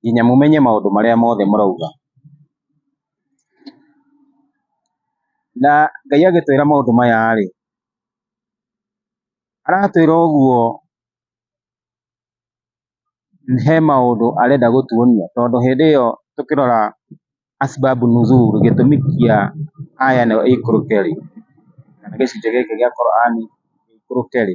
nginya mũmenye maũndũ marĩa mothe mũrauga. Na Ngai agĩtwĩra maũndũ maya rĩ, aratwĩra ũguo he maũndũ arenda gũtuonia, tondũ hĩndĩ ĩyo tũkĩrora Asbabu Nuzul, gĩtũmi kĩa aya ĩno ĩikũrũke rĩ, kana gĩcunjĩ gĩkĩ gĩa Qur'an gĩikũrũke rĩ,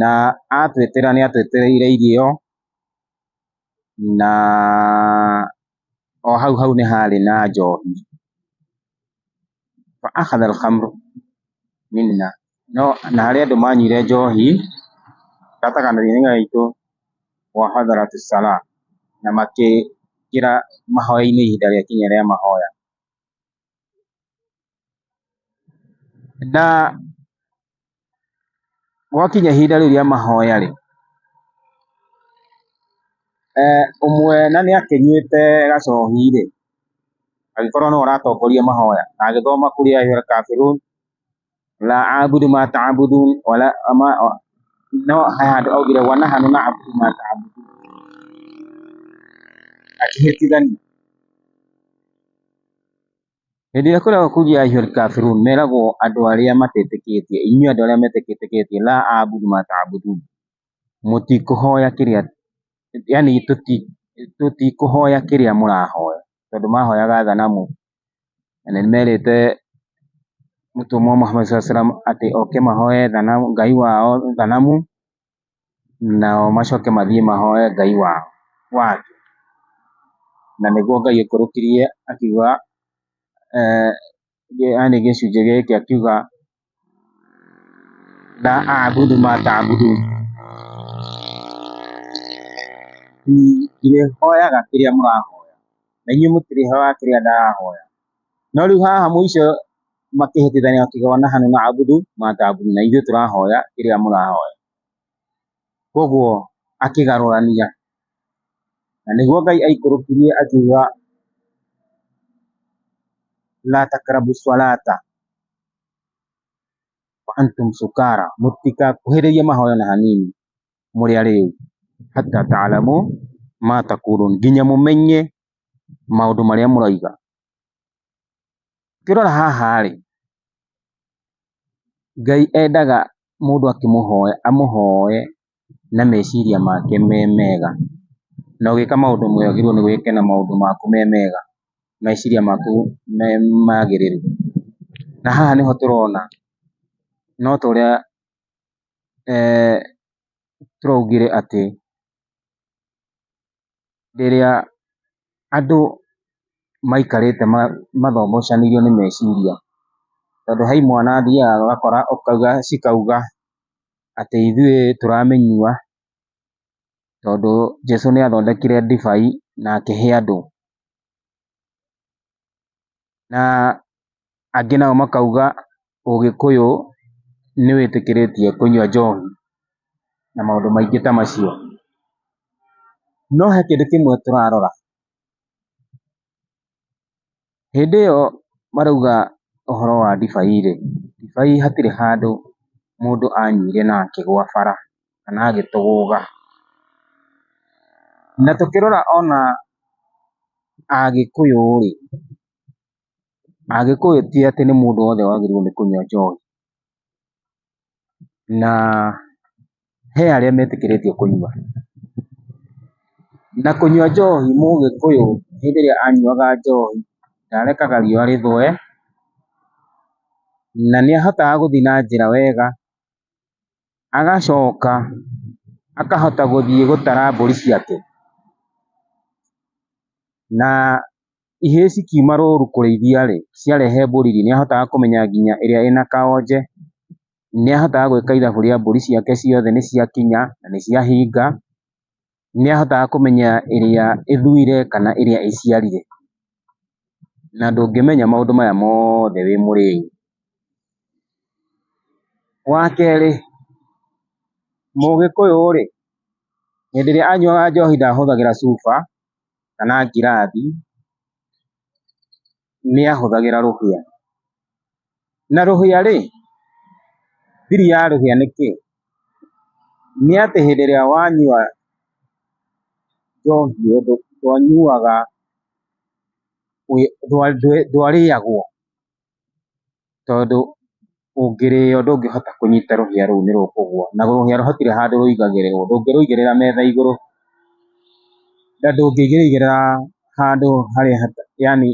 Na atwĩtĩra nĩ atwĩtĩrĩire irio, na o hau hau nĩ harĩ na njohi. Fa akhadha al-khamr minna, no na harĩ andũ manyuire njohi gatagatĩ-inĩ gaitũ, wa hadarat as-salah, na makĩingĩra mahoya-inĩ ihinda rĩakinya rĩa mahoya. Na gwakinya ihinda rĩu rĩa mahoya-rĩ, eh ũmwe na nĩakĩnyuĩte gacohi-rĩ, agĩkorwo nĩwe ũratongoria mahoya, na agĩthoma kũrĩ Ayub Al-Kafirun, la a'budu ma ta'budun wa la ma no hayadu aw gida wa nahnu na'budu ma ta'budun ati hirtidan hĩndĩ ĩrĩa kwĩragwo kugia ayyuhal kafirun meragwo andũ arĩa matetĩkĩtie inyuĩ andũ arĩa metetĩkĩtie la a'budu ma ta'budun mũtikũhoya kĩrĩa yani tũtikũhoya kĩrĩa mũrahoya tondũ mahoyaga thanamu na nĩ merĩte mũtũmwo Muhammad sallallahu alaihi wasallam atĩ oke mahoe thanamu, Ngai wao thanamu, nao macoke mathiĩ mahoe Ngai wao wangĩ. Na nĩguo Ngai aikũrũkirie akiuga, yaani gĩcunjĩ gĩkĩ akiuga la a'budu ma ta'budun ndĩrĩhoyaga kĩrĩa mũrahoya na inyuĩ mũtirĩhoyaga kĩrĩa ndĩrahoya no rĩu haha mũico makĩhĩtithania makiuga nahnu na'budu ma ta'budun na ithuĩ tũrahoya kĩrĩa mũrahoya koguo akĩgarũrania na nĩguo Ngai aikũrũkirie akiuga la takrabu salata wa antum sukara mũtikakuhĩrĩrie mahoya na hanini mũrĩ arĩu hatta ta'lamu ma taqulun nginya mũmenye maũndũ marĩa mũroiga. Ũkĩrora haha rĩ, Ngai endaga mũndũ akĩmũhoya amũhoe na meciria make me mega. Na ũgĩka maũndũ mega wagĩrĩirwo nĩ gũkena maũndũ maku me mega, meciria maku me magĩrĩru. Na haha nĩho tũrona no ta ũrĩa tũraugire atĩ rĩrĩa andũ maikarĩte mathogocanĩirio nĩ meciria, tondũ he imwana athiaga ũgakora ũkauga cikauga atĩ ithuĩ tũramĩnyua, tondũ Jesũ nĩ athondekire ndibei na akĩhe andũ. na angĩ nao makauga ũgĩkũyũ nĩ wĩtĩkĩrĩtie kũnyua njohi na maũndũ maingĩ ta macio. No he kĩndũ kĩmwe tũrarora, hĩndĩ ĩyo marauga ũhoro wa ndibaiĩ, ndibaiĩ hatirĩ handũ mũndũ anyuire na akĩgwa bara kana agĩtũgũga. Na tũkĩrora ona Agĩkũyũ rĩ, Agĩkũyũ ti atĩ nĩ mũndũ wothe wagĩrĩirwo nĩ kũnyua njohi, na he arĩa metĩkĩrĩtio kũnyua. Na kũnyua njohi mũgĩkũyũ hĩndĩ ĩrĩa anyuaga njohi ndarekaga riũa rĩthũe, na nĩahotaga gũthiĩ na njĩra wega. agacoka akahota gũthiĩ gũtara mbũri ciake, na ihĩĩ cikiuma rũru kũrĩithia rĩ, ciarehe mbũri rĩ, nĩ ahotaga kũmenya nginya ĩrĩa ĩna kaonje, nĩ ahotaga gwĩka ithabu rĩa mbũri ciake ciothe nĩ ciakinya na nĩ ciahinga, nĩ ahotaga kũmenya ĩrĩa ĩthuire kana ĩrĩa ĩciarire, na ndũngĩmenya maũndũ maya mothe wĩ mũrĩu. Wa kerĩ, mũgĩkũyũ rĩ, hĩndĩ ĩrĩa anyuaga njohi ndahũthagĩra cuba kana ngirathi. nĩ ahũthagĩra rũhĩa. Na rũhĩa rĩ, thiri ya rũhĩa nĩ kĩĩ? Nĩ atĩ hĩndĩ ĩrĩa wanyua njohi ũndũ ndwanyuaga ndwarĩagwo. tondũ ũngĩrĩo ndũngĩhota kũnyita rũhĩa rũu nĩ rũkũgũa na rũhĩa hatirĩ handũ rũigagĩrĩrwo, ndũngĩrũigĩrĩra metha igũrũ na ndũngĩrũigĩrĩra handũ harĩa yaani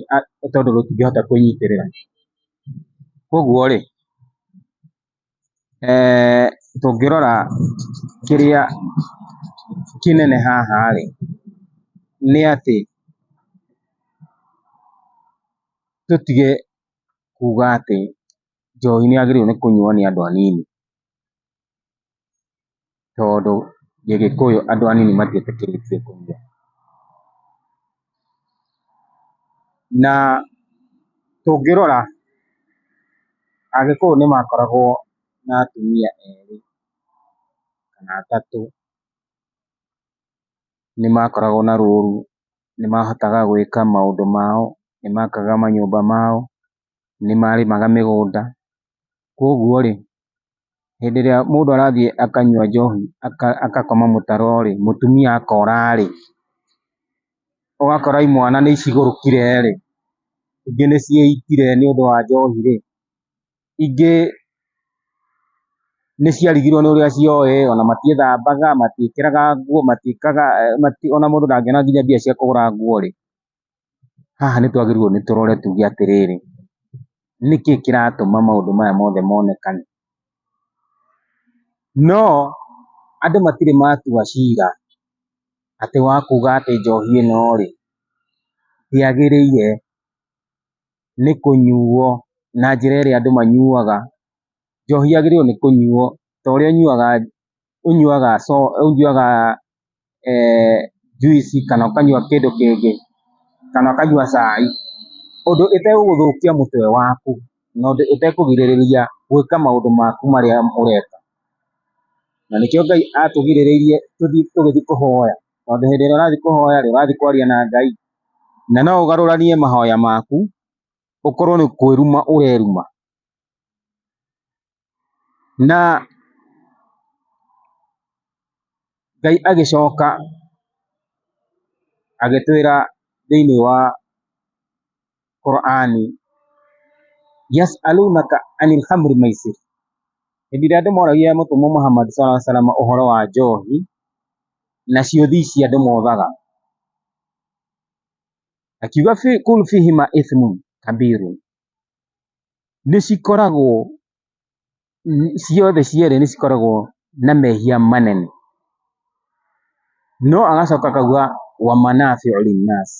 tondũ rũtingĩhota kwĩnyitĩrĩra. Koguo rĩ tũngĩrora kĩrĩa kĩnene haha rĩ nĩ atĩ tũtige kuga atĩ njohi nĩ yagĩrĩirwo nĩ kũnyuo nĩ andũ anini, tondũ gĩgĩkũyũ andũ anini matiĩtĩkĩrĩtio kũnyua. Na tũngĩrora agĩkũyũ nĩ makoragwo na atumia erĩ kana atatũ, nĩ makoragwo na rũru nĩ mahotaga gwĩka maũndũ mao, nĩ makaga manyũmba mao, nĩ marĩmaga mĩgũnda, kũguo rĩ, hĩndĩ ĩrĩa mũndũ arathiĩ akanyua njohi agakoma mũtaro rĩ, mũtumia akora rĩ, ũgakora imwana nĩ icigũrũkire rĩ, ingĩ nĩ cieitire nĩ ũndũ wa njohi rĩ. ingĩ nĩ ciarigirwo nĩ ũrĩa cioĩ, ona matiĩthambaga, matiĩkĩraga nguo, matiĩkaga, ona mũndũ ndangĩona nginya mbia cia kũgũra nguo rĩ, haha nĩ twagĩrĩirwo nĩ tũrore tuge atĩrĩrĩ, nĩkĩ kĩratũma maũndũ maya mothe monekane? No andũ matirĩ matua cira atĩ wa kuga atĩ njohi ĩno rĩ, ndĩagĩrĩire, nĩ kũnyuo na njĩra ĩrĩa andũ manyuaga. Njohi yagĩrĩirwo nĩ kũnyuo ta ũrĩa ũnyuaga, ũnyuaga soda, ũnyuaga juici kana ũkanyua kĩndũ kĩngĩ, kana ũkanyua cai, ũndũ ĩtegũgũthũkia mũtwe waku na ũndũ ĩtekũgirĩrĩria gwĩka maũndũ maku marĩa ũreka. Na nĩkĩo Ngai atũgirĩrĩirie tũthiĩ tũgĩthiĩ kũhoya, tondũ hĩndĩ ĩrĩa ũrathiĩ kũhoya-rĩ, ũrathiĩ kwaria na Ngai. Na no ũgarũranie mahoya maku ũkorwo nĩ kwĩruma ũreruma. Na Ngai agĩcoka agĩtwĩra thĩiniĩ wa qur'ani yas'alunaka anil khamri maisir hĩndĩ ĩrĩa andũ moragia mũtũmwo Muhammad sallallahu alaihi wasallam ũhoro wa njohi na ciũthi ici andũ mothaga akiuga fi kul fihima ithmun kabirun nĩ cikoragwo n- ciothe cierĩ nĩ cikoragwo na mehia manene no agacoka akauga wa manafiu linnas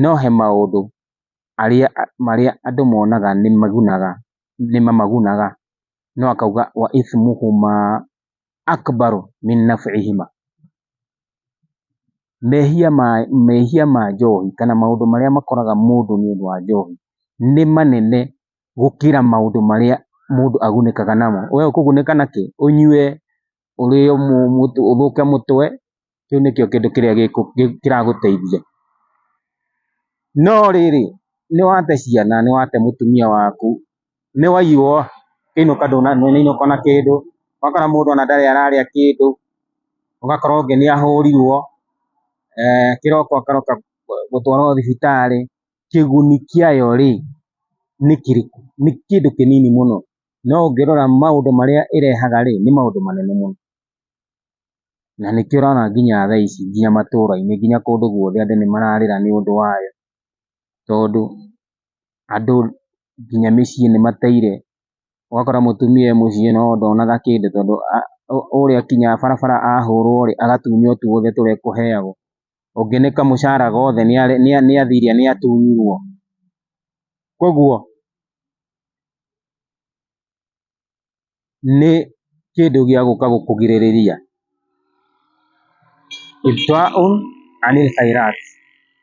no he maũndũ arĩa marĩa andũ monaga nĩ magunaga nĩ mamagunaga, no akauga wa ithmuhuma akbaru min nab'ihima. Mehia ma mehia ma njohi kana maũndũ marĩa makoraga mũndũ nĩũndũ wa njohi nĩ manene gũkĩra maũndũ marĩa mũndũ agunĩkaga namo. Wee ũkũgunĩka nakĩ? Ũnyue ũrĩo ũthũke mũtwe, kĩu nĩkĩo kĩndũ kĩrĩa kĩragũteithia. No rĩrĩ, nĩ wate ciana, nĩ wate mũtumia waku, nĩ waiywo, kĩainũka ndũnainũka ona kĩndũ, ũgakora mũndũ ona ndarĩ ararĩa kĩndũ, ũgakora ũngĩ nĩ ahũrirwo, kĩroko akaroka gũtwarwo thibitarĩ, kĩguni kĩayo rĩ, nĩ kĩrĩkũ? Nĩ kĩndũ kĩnini mũno. No ũngĩrora maũndũ marĩa ĩrehaga rĩ, nĩ maũndũ manene mũno. Na nĩkĩo ũrona nginya thaa ici nginya matũũra-inĩ nginya kũndũ guothe andũ nĩ mararĩra nĩ ũndũ wayo. Tondũ andũ nginya mĩciĩ nĩ mateire, ũgakora mũtumia e mũciĩ no ndonaga kĩndũ tondũ ũrĩa kinya barabara ahũrwo rĩ, agatunywo tuothe tũrĩa ekũheagwo. ũngĩ nĩ kamũcara gothe nĩathiria nĩatunyirwo. Kuoguo nĩ kĩndũ gĩa gũka gũkũgirĩrĩria.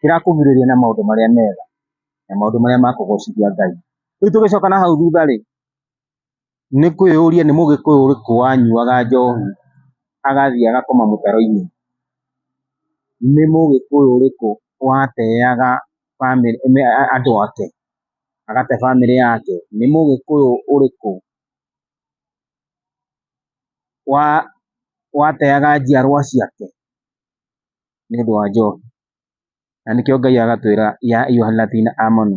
Kĩrakũgirĩrĩria na maũndũ marĩa mega na maũndũ marĩa ma kũgocithia Ngai. Rĩu tũgĩcoka na hau thutha-rĩ. Nĩ kwĩyũria nĩ mũgĩkũyũ ũrĩkũ wanyuaga njohi agathiĩ agakoma mũtaro-inĩ? Nĩ mũgĩkũyũ ũrĩkũ wateaga andũ ake, agate bamĩrĩ yake? Nĩ mũgĩkũyũ ũrĩkũ wateaga njiarwa ciake nĩ ũndũ wa njohi? Na nĩkĩo Ngai agatwĩra ya ayuha alladhina amanu.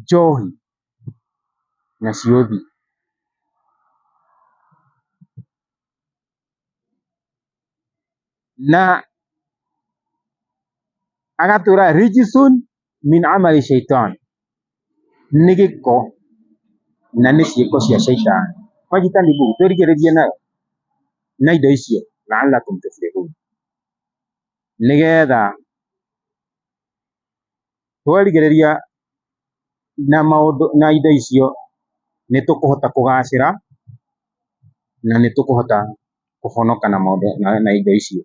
njohi na ciũthi. Na agatũra rijisun min amali shaitan, nĩ gĩko na nĩ ciĩko cia shaitani. Mwajitanibu, twĩrigĩrĩrie nayo na indo icio la'allakum tuflihun, nĩgetha twerigĩrĩria na maũndũ na indo icio nĩ tũkũhota kũgacĩra na nĩ tũkũhota kũhonoka na maũndũ na indo icio.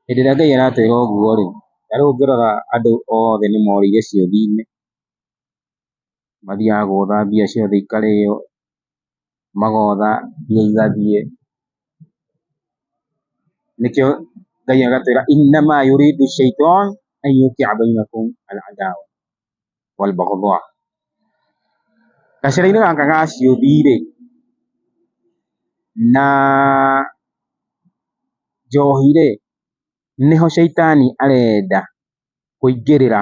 Hĩndĩ ĩrĩa Ngai aratwĩra ũguo rĩ, ta rĩu ũngĩrora andũ othe nĩ morĩire ciũthi-inĩ, mathiaga gũtha mbia ciothe ikarĩo, magotha mbia igathiĩ, nĩkĩo Ngai agatwĩra gacĩra-inĩ gaka ga ciũthi rĩ, na njohi rĩ, nĩho caitani arenda kũingĩrĩra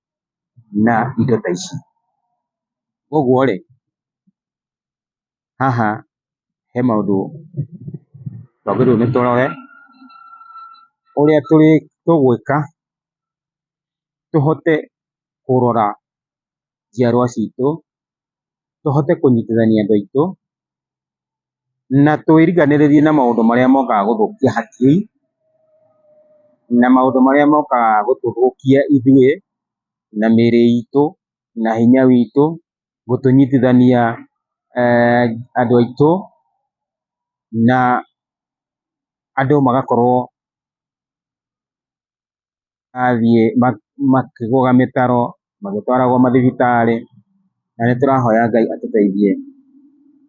na indo ta ici. Koguo rĩ, haha he maũndũ twagĩrĩirwo nĩ tũrore, ũrĩa tũgwĩka tũhote kũrora njiarwa citũ tũhote kũnyitithania andũ aitũ, na twĩriganĩrĩrie na maũndũ marĩa mokaga gũthũkia hakiri, na maũndũ marĩa mokaga gũtũthũkia ithuĩ, na mĩrĩ itũ, na hinya witũ, gũtũnyitithania andũ aitũ, na andũ magakorwo. athiĩ makĩgũga mĩtaro, magĩtwaragwo mathibitarĩ, na nĩ tũrahoya Ngai atũteithie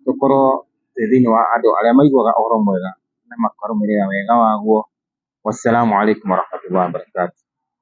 tũkorwo twĩ thĩinĩ wa andũ arĩa maiguaga ũhoro mwega na makarũmĩrĩra wega waguo. Wassalamualaikum warahmatullahi wabarakatuh.